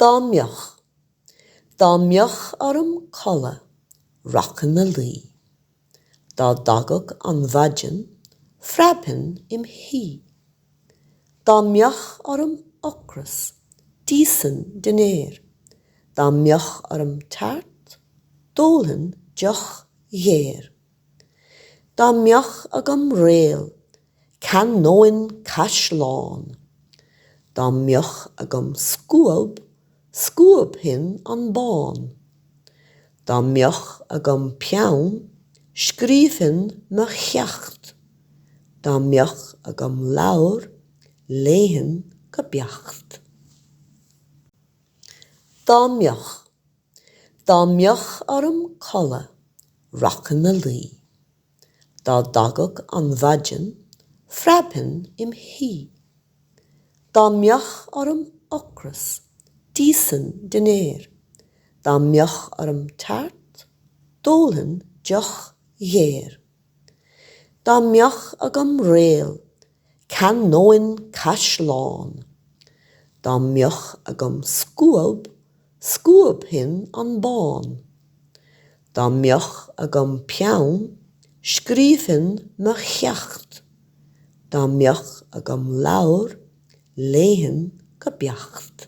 Dá mbeadh. Dá mbeadh orm codladh, rachainn a luí. Dá dtagadh an mhaidean, phreabfainn im' shuí. Dá mbeadh orm ocras, d'íosfainn dinnéar. Dá mbeadh orm tart, d'ólfainn deoch ghéar. Dá mbeadh agam réal, cheannóinn caisleán. Dá mbeadh agam scuab, scuabfainn an bán. Dá mbeadh agam peann, scríobfainn mo cheacht. Dá mbeadh agam leabhar, léifinn go beacht. Dá mbeadh. Dá mbeadh orm codladh, rachainn a luí. Dá dtagadh an mhaidean, phreabfainn im shuí. Dá mbeadh orm ocras, d'íosfainn dinnéar. Dá mbeadh orm tart, d'ólfainn deoch ghéar. Dá mbeadh agam réal, cheannóinn caisleán. Dá mbeadh agam scuab, scuabfainn an bán. Dá mbeadh agam peann, scríobfainn mo cheacht. Dá mbeadh agam leabhar, léifinn go beacht.